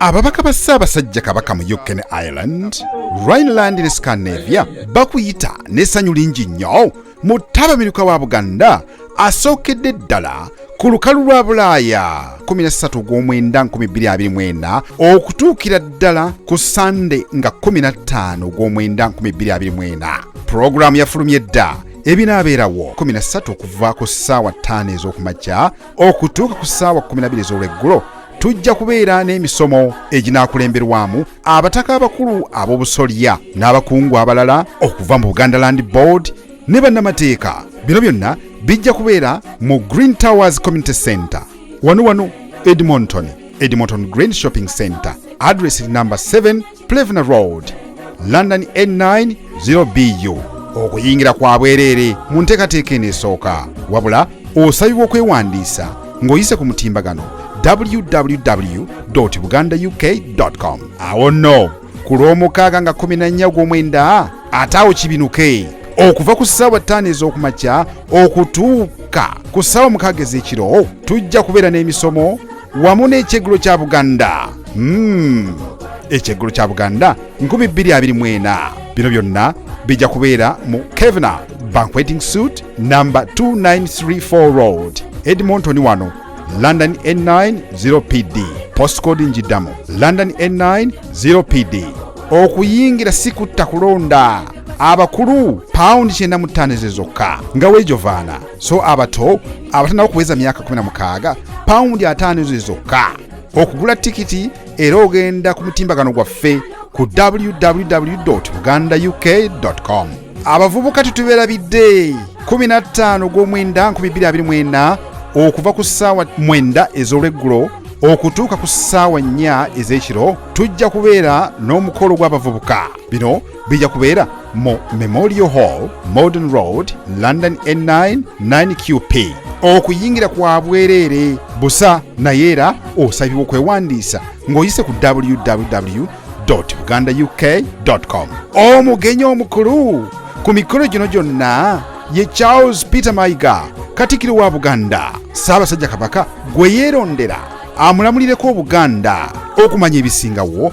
ababaka ba ssaabasajja kabaka mu uk ne ireland rhineland ne scandinavia bakuyita n'essanyu lingi nnyo mu ttabamiruka wa buganda asookedde ddala ku lukalu lwa bulaaya 13 ogw'omwenda 2024 okutuukira ddala ku sande nga 15 ogw'omwenda 2024 pulogulaamu yafulumye dda ebinaabeerawo 13 okuva ku ssaawa 5 ez'okumakya okutuuka ku ssaawa 12 ez'olweggulo tujja kubeera n'emisomo eginaakulemberwamu abataka abakulu ab'obusolya n'abakungu abalala okuva mu buganda land board ne bannamateeka bino byonna bijja kubeera mu green towers community center wano wano edmonton edmonton green shopping center adress namba 7 plevna road london n9 0bu okuyingira kwa bwereere mu nteekateeka eno esooka wabula osabibwa okwewandiisa ng'oyise ku mutimbagano www buganda uk com awo nno ku lw'omukaaga nga 14 ogw'omwenda ate awo kibinuke okuva ku ssaawa ttaano ez'okumakya okutuuka ku ssaawa mukaaga ez'ekiro tujja kubeera n'emisomo wamu n'ekyeggulo kya buganda hmm. ekyeggulo kya buganda 224 bino byonna bijja kubeera mu kevna banqueting suit namba 2934 road edmonton wano london n9 0 pd postcode njiddamu london n9 0 pd okuyingira si kutta kulonda abakulu pawundi kyenda mu ttaano ezo zokka nga weejovaana so abato abatanaba okuweza myaka 16 pawundi ataano ezo zokka okugula tikiti era ogenda ku mutimbagano gwaffe ku www buganda uk com abavubuka tetubeerabidde 15 gw'omwenda 224 okuva ku ssaawa mwenda ez'olweggulo okutuuka ku ssaawa nnya ez'ekiro tujja kubeera n'omukolo gw'abavubuka bino bija kubeera mu memorial hall modern road london n9 9qp okuyingira kwa bwereere busa naye era osabibwa okwewandiisa ng'oyise ku www buganda uk com omugenyi omukulu ku mikolo gino gyonna ye charles peter mayiga katikiro wa buganda saabasajja kabaka gwe yeerondera amulamulireko obuganda okumanya ebisingawo